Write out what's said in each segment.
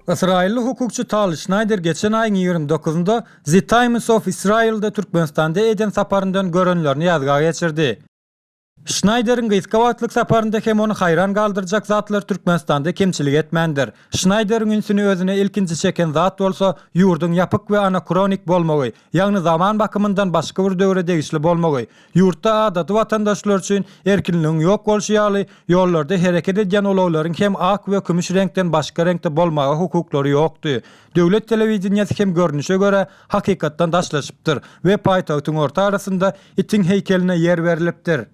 Ysraýylly hukukçy Tal Şnaýder geçen aýyň ýigrimi dokuzynda The Times of Israel-da Türkmenistanda eden saparyndan görenlerini ýazga geçirdi. Şnaýderiň gysga wagtlyk saparynda hem ony haýran galdyrjak zatlar Türkmenistanda kemçilik etmändir. Şnaýderiň ünsüni özüne ilkinji çeken zat bolsa ýurduň ýapyk we anakronik bolmagy, ýagny zaman bakymyndan başga bir döwre degişli bolmagy, ýurtda adaty watandaşlar üçin erkinligiň ýok bolşy ýaly, ýollarda hereket edýän ulaglaryň hem ak we kümüş reňkden başga reňkde bolmaga hukuklary ýokdy. Döwlet telewideniýesi hem görnüşe görä hakykatdan daşlaşypdyr we paýtagtyň orta arasynda itiň heýkeline ýer berlipdir.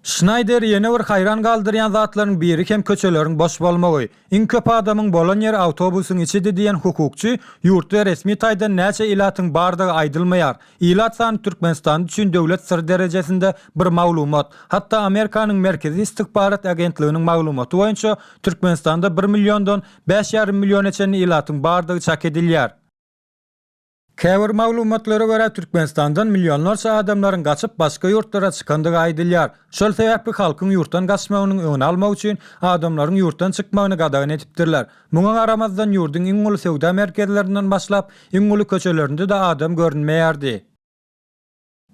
Şnaýder ýene bir haýran galdyrýan zatlaryň biri hem köçeleriň boş bolmagy. Iň köp adamyň bolan ýeri awtobusyň içidi diýen hukukçy, Ýurtda resmi taýdan näçe ilatyň bardygy aýdylmaýar. Ilat sany Türkmenistan üçin döwlet syry derejesinde bir maglumat. Hatda Amerikanyň Merkezi Ystykbarat Agentliginiň maglumaty boýunça Türkmenistanda bir milliondan bäş ýarym milliona çenli ilatyň bardygy çak edilýär. Käbir maglumatlara görä, Türkmenistandan millionlarça adamlaryň gaçyp başga ýurtlara çykandygy aýdylýar. Şol sebäpli halkyň ýurtdan gaçmagynyň öňüni almak üçin adamlaryň ýurtdan çykmagyny gadagan edipdirler. Muňa garamazdan ýurduň iň uly söwda merkezlerinden başlap, iň uly köçelerinde-de adam görünmeýärdi.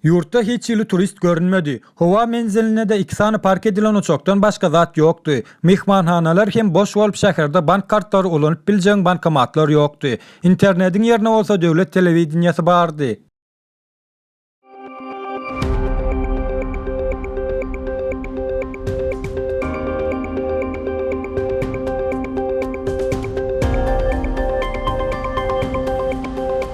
Ýurtda hiç hili turist görünmedi. Howa menzilinde-de iki sany park edilen uçakdan başga zat ýokdy. Myhmanhanalar hem boş bolup şäherde bank kartlary ulanyp biljegiň bankomatlar ýokdy. Internediň ýerine bolsa döwlet telewideniýesi bardy.